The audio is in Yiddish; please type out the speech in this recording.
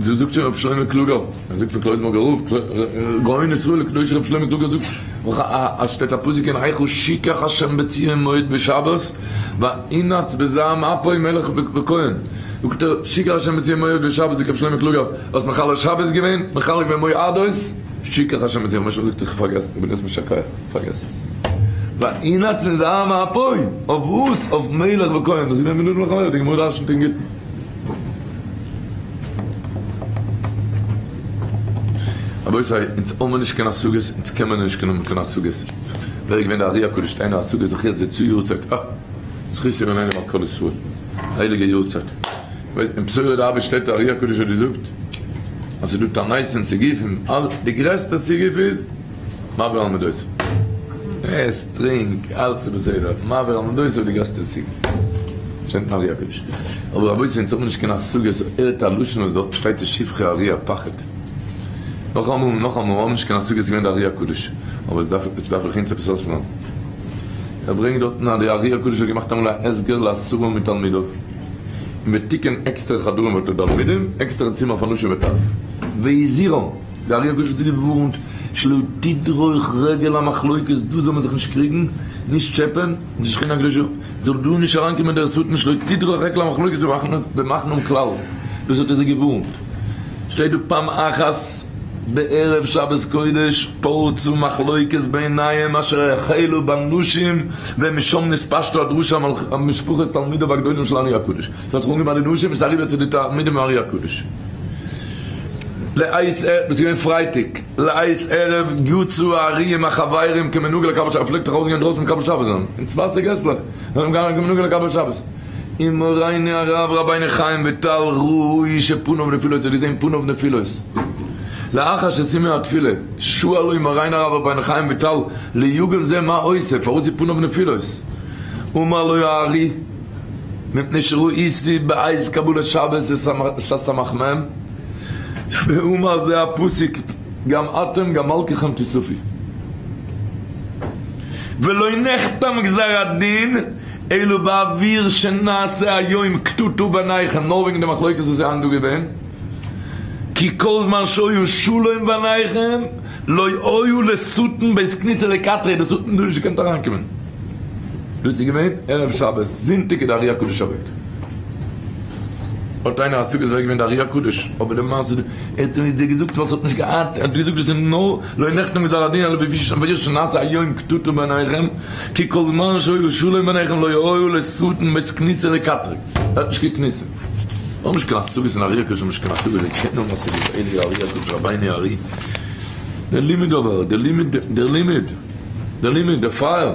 צו זאגט שוין ר' שלמה קלוגער, ער זאגט פון קלויזנבורגער רב, גאון ישראל הקדוש ר' שלמה קלוגער זאגט אויך אז שטייט א פסוק אין איכה שיקח השם בציון מועד בשבת וינעץ בזעם אפו מלך וכהן, זאגט ער שיקח השם בציון מועד בשבת זאגט ר' שלמה קלוגער האסט מחלל שבת געווען, מחלל געווען מועדות, שיקח השם בציון מועד שבת זאגט ער איך האב פארגעסן, איך בין אויס משא כ איך האב פארגעסן, וינעץ בזעם אפו אויף וואס? אויף מלך וכהן, וואס איז געווען בנדון מחלל די גמרא דרשנ'ט אין גיטין. רבותי, אונז האמער נישט קיין השגות, אונז קענמער נישט קיין האבן קיין השגות. ווער איז געווען די ארי הקדוש שטיינער השגה זיך יעצט די צו יארצייט? אה! זכות ימים עלינו ועל כל ישראל. הייליגע יארצייט. ווייסט און בשורה דרבה שטייט ארי הקדוש האט געזאגט אז ס'איז דא תנאיס און סיגופים, די גרעסטע סיגוף איז, מעביר על מדותיו. עס, טרינק, אלץ איז בסדר, מעביר על מדותיו די גרעסטע ציג. שטייט אין אר י הקדוש. אבער רבותי אונז האבן נישט קיין השגה סאו הערט א לשון וואס דארט שטייט איז שבחי אר י א פחד. נאכאמאל און נאכאמאל מיר האבן נישט קיין השגה ס'איז געווען די אר י הקדוש. אבער עס דארף זיך אונז עפעס אויסלערנען. ער ברענגט דארטן אז די אר י הקדוש האט געמאכט אמאל א הסגר לעשרה מתלמידיו און בתיקון עקסטערע חדרים פאר תלמידים, עקסטערע צימער פאר נשים וטף. והזהירם! דער ארי הקדוש האט זיי געווארנט, שלא תדרוך רגל המחלוקת, דא זאל מען זיך נישט קריגן, נישט טשעפען, די שכינה הקדושה זאל דא נישט אריינקומען דער שטן, שלא תדרוך רגל המחלוקת במחנם כלל, דאס האט ער זיי געווארנט, שטייט דא פעם אחת בערב שבת קודש, פרצו מחלוקת בעיניהם אשר החלו בנשים, ומשם נתפשטה הדרשה על משפחות תלמידיו הגדולים של ארי הקדוש. ס'האט זיך אנגעמאכט די נשים איז אריבער צו די תלמידים ארי הקדוש לעת ערב איז געווען פרייטאג לעת ערב יצאו העריים החברים כמנהגו לקבל שבת פלעגט דאך אויסגיין דרויסן מקבל שבת זיין אין צווייסע געסלעך זענען געגאנגען כמנהגו לקבל שבת און מורינו הרב רבינו חיים וויטאל ר י שפניו נפילות האט געזעהן פניו נפילות לאחר שסיימו התפילה שאלו מורינו הרב רבינו חיים וויטאל ליוגב ז מה עושה פארוואס איז פניו נפילות אמר לו הארי מפני שראו איסי בעת קבלת שבת שש סמך מ' ואמר זה הפסוק גם אתם גם מלקיכם תסופי ולא נחתם גזר הדין אלא בעביר שנעשה היום קטטו ביניכם נאר וועגן די מחלוקת וואס איז היינט דא געווען כי כל זמן שהיה שלום ביניכם לא היה לשטן בית כניסה לקטרי די שטן האט נישט געקענט אריינקומען דאס איז געווען ערב שבת, זונטאג איז די אריה קדוש אוועק. האט איינער השגות ווער איז געווען די אריה קדוש? אבער די מעשה איז, ער האט אונז געזאגט וואס ער האט נישט געהאט, ער האט געזאגט דאס איז נאר לא נחתם גזר הדין אלא בפי ש ויש שנעשה היום קטטה ביניכם כי כל זמן שהיה שלום ביניכם לא היה עולה שטן בית כניסה לקטרג, ער האט נישט געקניסעט. נאר משכן השגות אין ארי' הק' משכן השגות אין קען נאר משגות אין אלי ארי' הק' רבינו ארי' דער לימוד אבער דער לימוד דער לימוד דער לימוד דער פייער